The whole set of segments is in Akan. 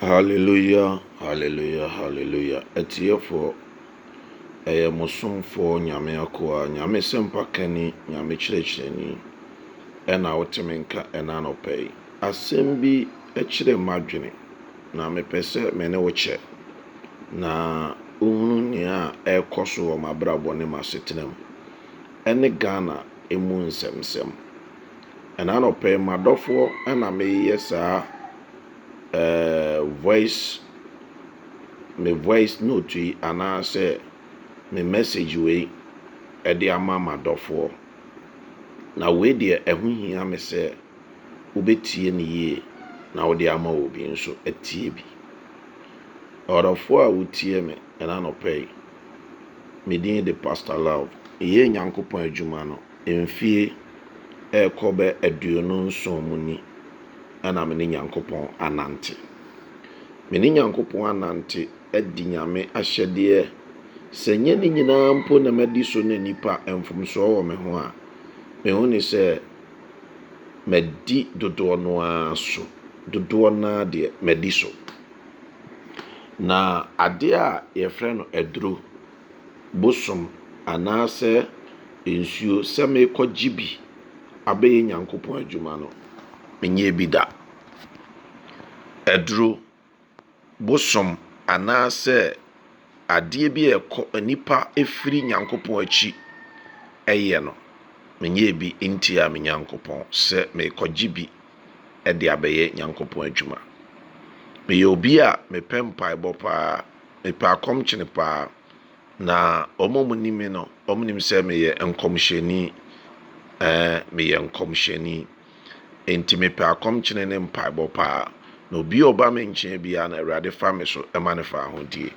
Hallelujah hallelujah hallelujah atiefoɔ ɛyɛ mo somfoɔ nyame akoa nyame sɛmpa kani nyame kyerɛkyerɛni ɛna wote me nka ɛna anɔpa yi asɛm bi ɛkyerɛ m'adwene na mepɛ sɛ me ne wo kyɛ na wohunu nea ɛrekɔ so wɔ m'abrabɔ ne m'asetena mu ɛne Ghana emu nsɛmsɛm Ɛna anɔpa yi m'adɔfoɔ ɛna meyɛ saa ɛɛ voice me voice note yi anaasɛ me message wei ɛde ama m'adɔfoɔ. Na wei deɛ ɛho hia me sɛ wobɛtie no yie na wode ama obi nso atie bi. Ɔdɔfoɔ a wotie me ɛna anɔpa yi, me din de Pastor Love. Yɛyɛ Nyankopɔn adwuma no. Mfie rekɔ bɛ aduonu nson mu ni a na me ne Nyankopɔn anante. Me ne Nyankopɔn anante adi Nyame ahyɛdeɛ, sɛ nyɛ ne nyinaa mpo na madi so na nnipa mfomsoɔ wɔ me ho a, mehu ne sɛ madi dodoɔ no ara so, dodoɔ no ara deɛ madi so. Na adeɛ a yɛfrɛ no aduro, bosom anaasɛ nsuo sɛ merekɔ gye bi abɛyɛ Nyankopɔn adwuma no, menyɛɛ bi da. Aduro, bosom anaasɛ adeɛ bi a ɛkɔ nnipa firi Nyankopɔn akyi yɛ no, menyɛɛ bi ntiaa me Nyankopɔn sɛ merekɔ gye bi de abɛyɛ Nyankopɔn adwuma. Meyɛ obi a mepɛ mpaebɔ paa, Mepɛ akɔm kyene paa. Na wɔn a wɔnim me no, wɔnim sɛ meyɛ nkɔmhyɛni. Ɛɛ, meyɛ nkɔmhyɛni. Enti mepɛ akɔm kyene ne mpaebɔ paa. Na obi a ɔba me nkyɛn biara no, Awurade fa me so ma no fa ahodie.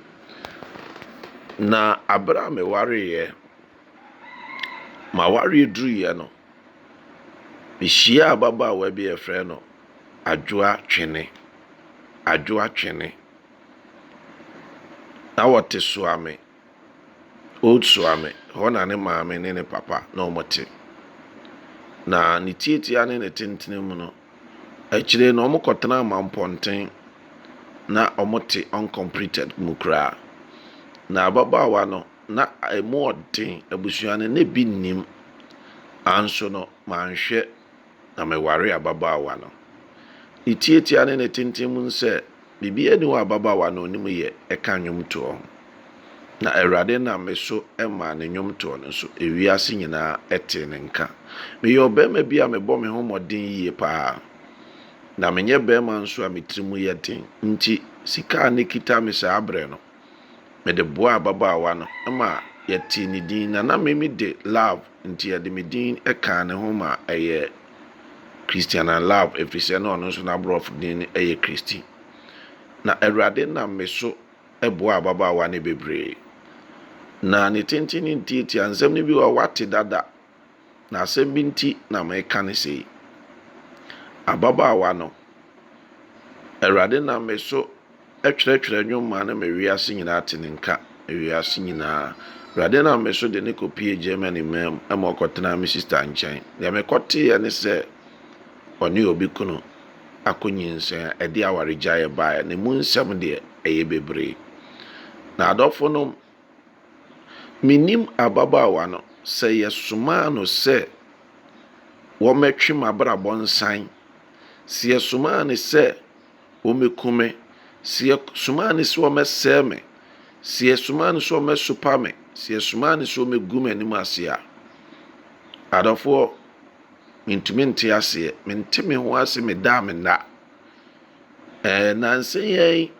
Na abere a mewareeɛ, mawareɛ duruiɛ no, mehyiaa ababaawa bi a yɛfrɛ no Adwoa Twene. Adwoa Twene. Na wɔte Suame, Old Suame, hɔ na ne maame ne ne papa na wɔte. Na ne tiatia ne ne tentene mu no, akyire no wɔkɔtenaa Mampɔnten na wɔte uncompleted mu koraa. Na ababaawa no, na ɛmu ɔden, abusua no na ebi nnim. Nanso no, manhwɛ. na mewaree ababaawa no. Ne tiatia ne ne tenten mu nsɛ, biribiara nni hɔ a ababaawa no nim yɛ ɛka nnwomtoɔ ho. Na Awurade nam me so maa ne nnwomtoɔ no so ewiase nyinaa tee ne nka. Meyɛ ɔbarima bi a mebɔ me ho mmɔden yie pa ara, na menyɛ barima nso a me tirim yɛ den nti sika a na ɛkita me saa berɛ no, Mede boaa ababaawa no ma yɛtee ne din, na na Mimi de Love, enti yɛde me din kaa ne ho ma ɛyɛɛ Christiana Love, efisɛ na ɔno nso n'aborɔfo din yɛ Christy. Na Awurade nam me so boaa ababaawa no bebree. Na ne tenten ne ntiatiaa, nsɛm no bi wɔ hɔ a wate dada. na asɛm bi nti na mereka no sei. Ababaawa no, Awurade nam me so twerɛtwerɛ nnwom maa no ma wiase nyinaa te ne nka, wiase nyinaa. Awurade nam me so de no kɔpie Germany man mu ma ɔkɔtenaa me sista nkyɛn. Deɛ mekɔteeɛ ne sɛ ɔne obi kunu akɔ nyinsɛn a ɛde awaregyaeɛ baeɛ. Ne mu nsɛm deɛ ɛyɛ bebree. Na adɔfonom, Minnim ababaawa no, sɛ yɛsomaa no sɛ wɔmmɛtwe m'abrabɔ nsan, sɛ yɛsomaa no sɛ wɔmmɛku me, sɛ yɛsomaa no sɛ wɔmmɛsɛe me, sɛ yɛsomaa no sɛ wɔmmɛsopa me, sɛ yɛsomaa no sɛ wɔmmɛgu m'anim ase a. Adɔfoɔ, mentumi nte aseɛ. Mente me ho ase, meda a menna. Ɛɛ, nnansa yi ara yi.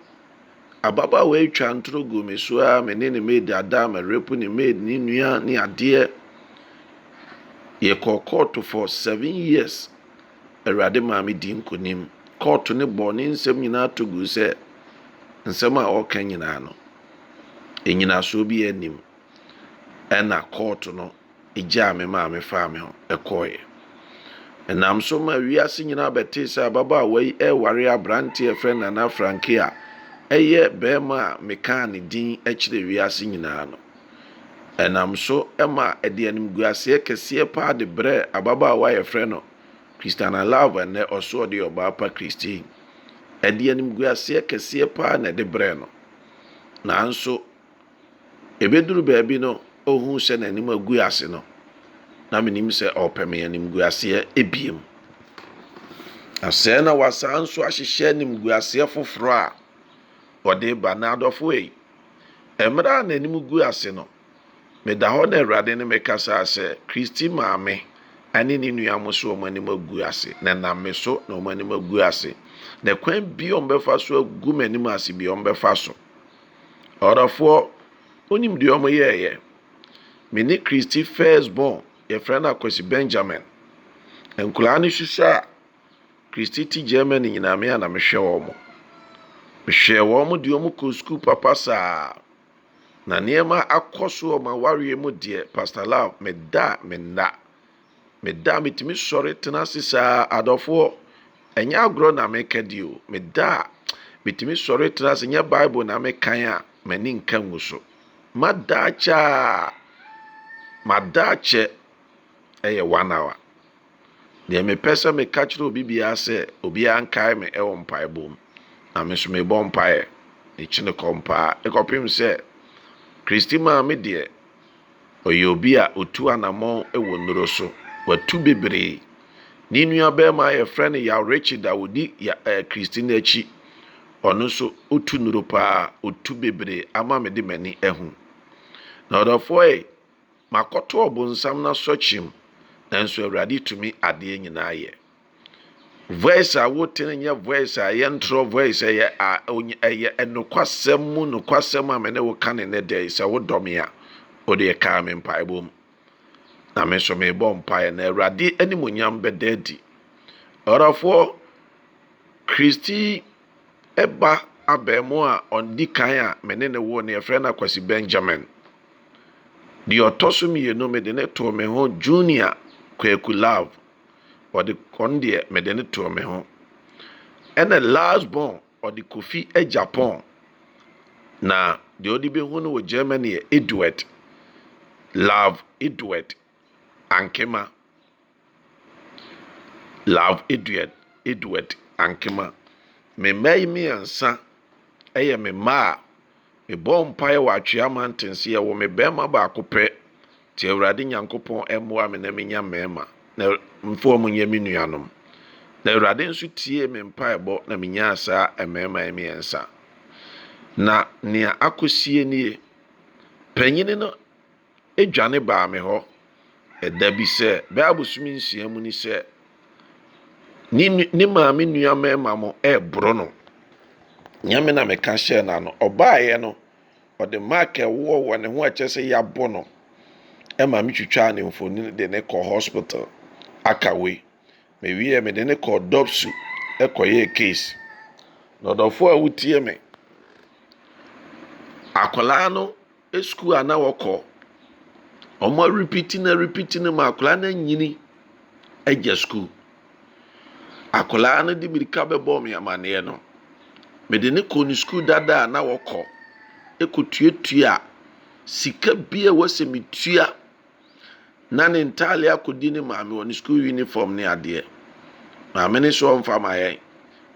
Ababaawa yi twaa ntoro guu me so ara, me ne ne maid ada, merepo ne maid, ne nua ne adeɛ. Yɛkɔɔ kɔɔto for seven years. Awurade maa me di nkonim. Kɔɔto no bɔɔ ne nsɛm nyinaa to guu sɛ nsɛm a ɔreka nyinaa no, nnyinasoɔ biara nnim. Ɛna kɔɔto no gyaa me maame faa me ho kɔeɛ. Ɛnam so maa wiase nyinaa bɛtee sɛ ababaawa yi reware aberanteɛ a ɛfrɛ no Nana Franke a ɛyɛ barima a mekaa ne din kyerɛɛ wiase nyinaa no. Ɛnam so ma ɛde animguaseɛ kɛseɛ paa de brɛɛ ababaawa a yɛfrɛ no Christiana Love a nnɛ ɔso ɔde yɛ ɔbaa pa Christine. Ɛde animguaseɛ kɛseɛ paa na ɛde brɛɛ no. Nanso, Ebeduru baabi no, ohuu sɛ n'anim agu ase no, na menim sɛ ɔrepɛ me animguaseɛ ebiem. Na sɛɛ na wasan nso ahyehyɛ animguaseɛ foforɔ a ɔde ba n'adɔfo ei. Mmerɛ a n'anim gu ase no, meda hɔ na Awurade ne me kasaa sɛ, Kristi maame ne ne nua mo so wɔn anim agu ase, na ɛnam me so na wɔn anim agu ase, na kwan bia wɔbɛfa so agu m'anim ase bia wɔbɛfa so. Ɔdɔfoɔ, wonim deɛ wɔn yɛɛyɛ? Me ne Christy first born, yɛfrɛ no Akwasi Benjamin. Nkwadaa no susua a, Christy te Germany nyinaa me a na mehwɛ wɔn. Mehwɛɛ wɔn de wɔn kɔɔ sukuu papa saa. Na nneɛma akɔ so wɔ wɔn awareɛ mu deɛ, Pastor Lau, meda a menna. Meda a metumi sɔre tena ase saa adɔfoɔ ɛnyɛ agorɔ na meka di o meda a metumi sɔre tena ase nyɛ bible na mekan a m'ani nka ngu so mada akyɛ a mada akyɛ ɛyɛ one hour deɛ mepɛ sɛ meka kyerɛ obi biara sɛ obiara nkae me ɛwɔ mpaebɔ mu na me nso mebɔ mpaeɛ mekyene kɔ mpaa ɛkɔpem sɛ kristi maa me deɛ Ɔyɛ obi a otu anammɔn wɔ nnuro so. Watu bebree. Ne nuabarima a wɔfrɛ no Yaw Richard a ɔdi Ya eh, Christy no akyi. Ɔno nso, otu nnuro paa. Otu bebree ama mede m'ani ahu. Na ɔdɔfoɔ ei, makɔto ɔbonsam no asɔkyem, nanso Awurade tumi adeɛ nyinaa yɛ. Voice a wote no nyɛ voice a ɛyɛ ntorɔ voice ɛyɛ a ɛyɛ ɛnokwasɛm mu nokwasɛm a me ne wo ka ne ne dɛ sɛ wodɔ me a wode ɛkaa me mpaebɔ mu na me nso mebɔ mpaeɛ na awurade animonyam bɛda adi ɔdɔfoɔ kristi ɛba abɛɛmo a ɔndi kan a me ne ne wo ne ɛfrɛ no akwasi benjamin deɛ ɔtɔ so mmienu mede ne too me ho junior kwaku love ɔde kɔn deɛ mede no too me ho. Ɛna last born ɔde kofi Japan na deɛ ɔde bɛhu no wɔ Germany yɛ Edward love Edward ankema love Edward Edward ankema me mma yi mmiɛnsa ɛyɛ me mma a mebɔ mpaeɛ wɔ atwea mantenseɛ wɔ me bɛrima baako pɛ Nti Awurade Nyankopɔn mmoa me na menya mmarima, na mfa wɔn nyɛ me nuanom. Na Awurade nso tiee me mpaebɔ na menyaa saa mmarima yi mmiɛnsa. Na nea akɔsie nie, Panyini no dwane baa me hɔ ɛda bi sɛ, bɛyɛ abosome nsia mu ni sɛ, ne, ne maame nua mmarima mo ɛreboro no. Nyɛ me na meka hyɛɛ n'ano. Ɔbaeɛ no, Ɔde mark a ɛwɔ wɔ ne ho a ɛkyerɛ sɛ yɛabɔ no ma me twitwaa ne mfonini de ne kɔɔ hospital Akawe. Mewieɛ mede ne kɔɔ Dɔpsu kɔyɛɛ case. Na ɔdɔfoɔ a wotie me, akwadaa no sukuu a na wɔkɔ, wɔn arepiti no arepiti no ma akwadaa no anyini agya sukuu. Akwadaa no de mmirika bɛbɔɔ me amaneɛ no, mede no kɔɔ ne sukuu dada a na wɔkɔ kɔtuatua sika bi a ɛwɔ sɛ metua na ne ntadeɛ akɔdi ne maame wɔ ne sukuu unifɔm ne adeɛ. Maame no so ɔmfa mma yɛn,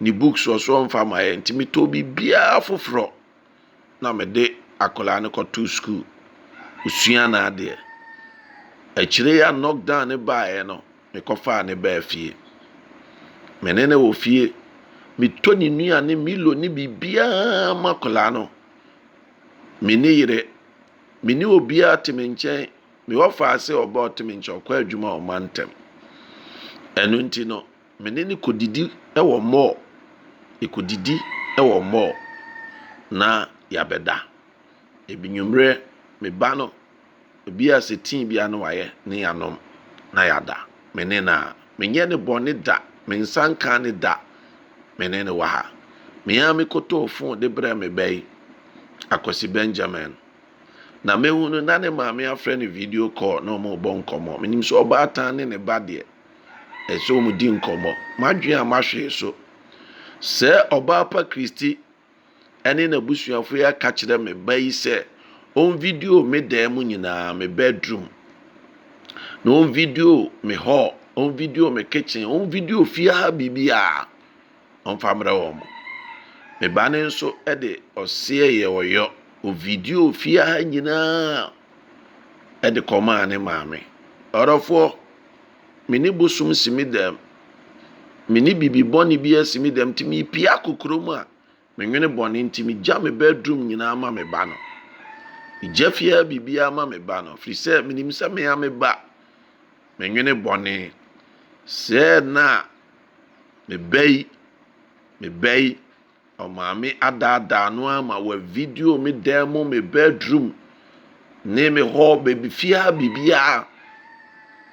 ne books nso ɔmfa mma yɛn nti metɔɔ biribiara foforɔ. na mede akwadaa no kɔtoo sukuu, ɔsua n'adeɛ. Akyire yi a knockdown no baeɛ no, mekɔfaa no baa fie. Me ne no wɔ fie, metɔ ne nnuane, Milo ne biribiara ma akwadaa no. Me ne yere, me ne obiara te me nkyɛn, me ɔfa ase ɔba ɔte me nkyɛn, ɔkɔ adwuma ɔma ntɛm. Ɛno nti no. Me ne no kɔdidi wɔ mall. Yɛkɔdidi wɔ mall na yɛabɛda. Anwummerɛ me ba no, ebi a sɛ tii biara na wayɛ na yɛanom na yɛada me ne no a. Menyɛ no bɔne da, me nsa nkaa no da. Me ne no wɔ ha. Me ara mekɔtɔɔ phone de brɛɛ me ba yi, Akwasi Benjamin. Na mahu no na ne maame afrɛ no video call na wɔrebɔ nkɔmmɔ. Menim sɛ ɔbaatan ne ne ba deɛ, ɛsɛ wɔn di nkɔmmɔ. M'adwene a mahwee so. Sɛ ɔbaa pa Kristi ɛne n'abusuafo yi aka kyerɛ me ba yi sɛ ɔn video me dan mu nyinaa, me bedroom, na ɔn video me hall, ɔn video me kitchen, ɔn video fie ha biribiara, ɔmfa mmerɛ wɔn. Me ba no nso de ɔseɛ yɛ ɔyɔ, ɔ video fie ha nyinaa ɛde kɔmaa ne maame. Ɔdɔfoɔ. Me ne bosom si me dɛm. Me ne bibi bɔne bi asi me dɛm nti mepia kokurɔ mu a menwene bɔne nti megya me bedroom nyinaa ma me ba no. Megya fiaa biribiara ma me ba no firi sɛ menim sɛ me a me ba menwene bɔne. Sɛɛ na me ba yi, me ba yi. Ɔmaame adaadaa no ara ma wa video me dan mu, me bedroom, ne me hɔ, baabi fiaa biribiara.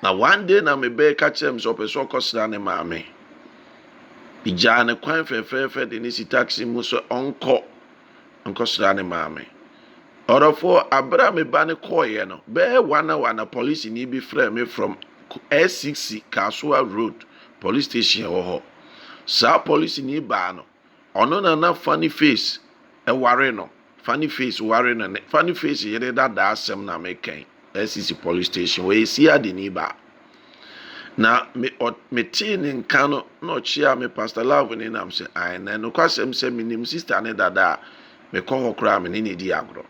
Na one day na me bɛɛ ka kyerɛ me sɛ ɔpɛ sɛ ɔkɔsra ne maame. Megyaa ne kwan fɛfɛɛfɛ de ne si taxi mu sɛ ɔnkɔ nkɔsra ne maame. Ɔdɔfoɔ, abere a me ba no kɔeɛ no, bɛɛ one hour na polisini bi frɛɛ me from SCC Kasoa Road police station wɔ hɔ. Saa polisini baa no, ɔno na na Funny Face ware no. Funny Face ware no ne Funny Face yere dada asɛm na meka yi. Asisi police station ɔyɛ siadeni baa. Na me ɔ metee ne nka no na ɔkyeaa me Pastor Love ne nam sɛ ae na nokwasɛm sɛ menim sista ne dada a mekɔ hɔ koraa me ne ne di agorɔ.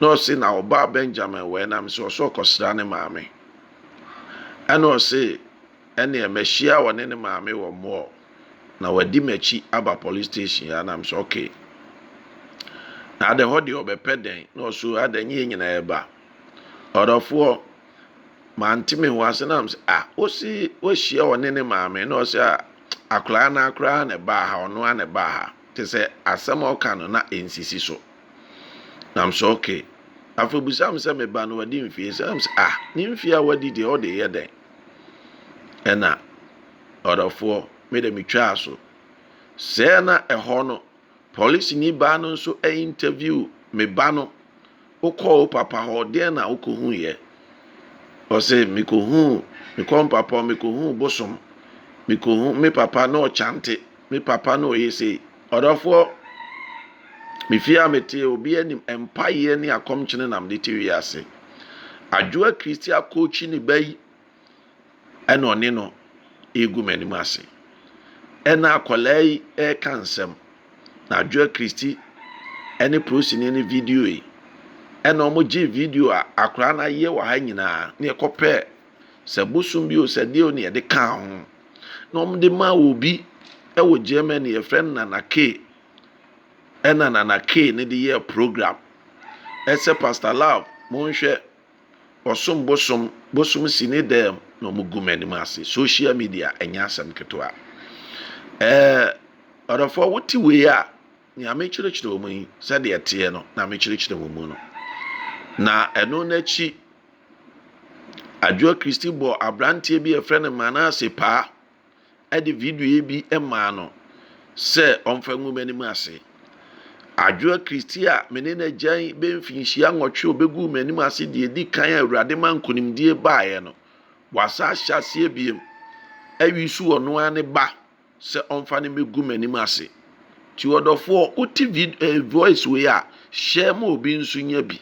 Na ɔse na ɔbaa Benjamin wɔ ɛnam sɛ ɔsɛ ɔkɔsra ne maame. Ɛna ɔse Ɛnneɛ mahyia ɔne ne maame wɔ mall na wadi m'akyi aba police station a na mesɛ okay na adɛn hɔ deɛ ɔbɛpɛ dɛn na ɔso adɛn nye yɛn nyinaa ɛba ɔdɔfoɔ mante me ho ase na mesɛ ah wosi wahyia ɔne ne maame na ɔsɛ ah akwaraa no akoraa na ɛbaa ha ɔno a na ɛbaa ha te sɛ asɛm a ɔka no na ɛnsisi so na mesɛ okay afei bisa me sɛ meba no wadi mfie sɛ na mesɛ ah ne mfie a wadi deɛ ɔde yɛ dɛn Ɛna ɔdɔfoɔ me de me twaa so. Sɛɛ na ɛhɔ no, polisini baa no nso interview me ba no. Wokɔɔ wo papa hɔ, deɛn na wokɔhuiɛ? Ɔse, mekɔhuu, mekɔɔ me papa hɔ, mekɔhuu bosom. Mekɔhu, me papa na ɔkyante. Me papa no ɔyɛ sei. Ɔdɔfoɔ, me fie a meteɛ obiara nim mpaeɛ ne akɔmkyene na mede te wiase. Adwoa Kristi akɔkyi ne ba yi ɛna ɔne no ɛregu m'anim ase. Ɛna akwadaa yi ɛreka nsɛm na Adwoa Kristi ɛne prosini ne video yi ɛna wɔn gyee video a akwadaa no ayɛ wɔ ha nyinaa ne ɛkɔpɛ Sɛ bosom bi o, sɛ deɛ o ne yɛde kaa ho. Na wɔde maa obi wɔ Germany, yɛfrɛ no Nana K. Ɛna Nana K ne de yɛɛ program. Ɛsɛ Pastor Love, monhwɛ, wɔsom bosom, bosom si ne dɛm na wɔgu m'anim ase. Social media, ɛnyɛ asɛm ketewa. Ɛɛ, ɔdɔfoɔ, wote wei a, nea mekyerɛkyerɛ wɔn yi, sɛdeɛ ɛteɛ no, na mekyerɛkyerɛ wɔn mu no. Na ɛno n'akyi, Adwoa Christie bɔɔ aberanteɛ bi a wɔfrɛ no Manasseh paa de video bi maa no sɛ ɔmfa ngu m'anim ase. Adwoa Christie a me ne no agyan bɛyɛ mfinhyia nwɔtwe a ɔbɛguu m'anim ase deɛ ɛdi kan a Awurade ma nkonimdie baeɛ no, wasan ahyɛ aseɛ bio. Awi so ɔno ara ne ba. sɛ ɔmfa no mmɛgu m'anim ase. Nti ɔdɔfoɔ wote vid ɛɛ voice wei a share ma obi nso nya bi.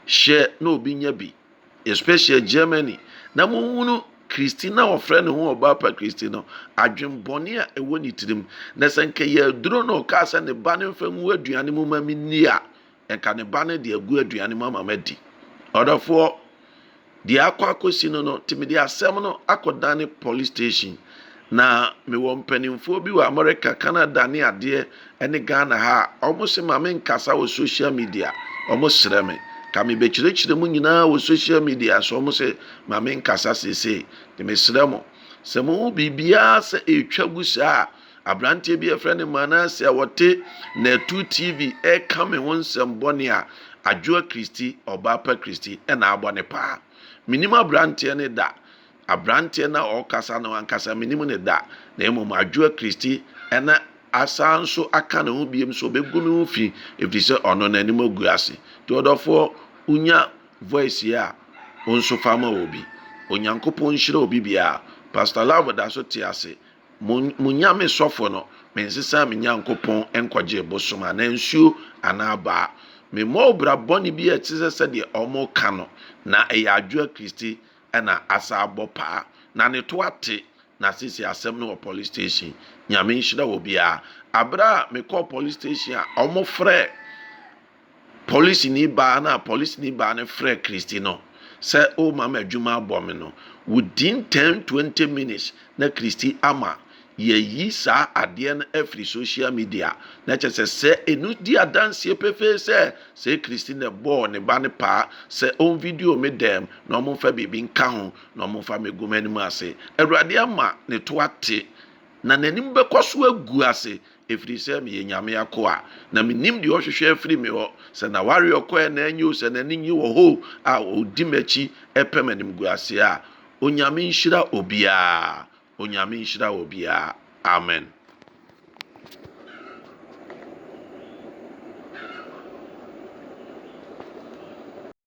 Share na obi nya bi especially Germany na monhunu Christina a ɔfrɛ ne ho ɔbaapa Christi no adwenbɔne a ɛwɔ ne tirim na sɛ nka yɛaduro no ɔkaa sɛ ne ba no mfa ngu aduane mu ma menni a Nka ne ba no de agu aduane mu ama madi. Ɔdɔfoɔ, deɛ akɔ akɔsi no no, nti mede asɛm no akɔdane police station. Na mewɔ mpanimfoɔ bi wɔ America, Canada ne adeɛ ne Ghana ha a, wɔn se ma menkasa wɔ social media. Wɔn srɛ me. Ka mebɛkyerɛkyerɛ mu nyinaa wɔ social media so, wɔn se ma menkasa seesei. Nti mesrɛ mo, sɛ mohu biribiara sɛ ɛretwa gu saa a, Aberanteɛ bi a yɛfrɛ no Manasseh a ɔte Natu TV reka me ho nsɛm bɔne a Adwoa Christy, Ɔbaapa Christy, na abɔ ne paa. Menim aberanteɛ no da. Aberanteɛ no a ɔrekasa no ankasa menim ne da. Na mmom Adwoa Christy na asan nso aka ne ho biom sɛ ɔbɛgu ne ho fi ɛfiri sɛ ɔno n'anim agu ase. Nti ɔdɔfoɔ wonya voice yi a wo nso fa ma obi. Onyankopɔn nhyira obi biara. Pastor Love da so te ase Mo mo nyame sɔfo no, mensesaa me Nyankopɔn nkɔgyee bosom anaa nsuo anaa abaa. Memmɔɔ obira bɔne bi a ɛte sɛ sɛdeɛ wɔreka no, na ɛyɛ Adwoa Christie na asan abɔ paa. Na ne to ate, na seesei asɛm no wɔ police station. Nyame nhyira obiara. Aberɛ a mekɔɔ police station a wɔfrɛɛ Polisini baa no a polisini baa no frɛɛ Christy no sɛ o ma me adwuma abɔ me no, within ten twenty minutes na Christy ama yɛayi saa adeɛ no afiri social media. Na kyerɛ sɛ sɛ ɛno di adanseɛ pefee sɛ sɛ Christy na ɛbɔɔ ne ba no paa sɛ ɔn video me dɛm na ɔmo mfa biribi nka ho na ɔmo mfa me gu m'anim ase. Awurade ama ne to ate na n'anim bɛkɔ so agu ase Ɛfiri sɛ meyɛ Nyame akoa, na menim deɛ ɔhwehwɛ afiri me hɔ, sɛ n'awareɛ ɔkɔ anaa anyi o, sɛ n'ani nnye wɔ hɔ o, a ɔdi m'akyi pɛ m'animguaseɛ a, Onyame nhyira obiara, Onyame nhyira obiara. Amen.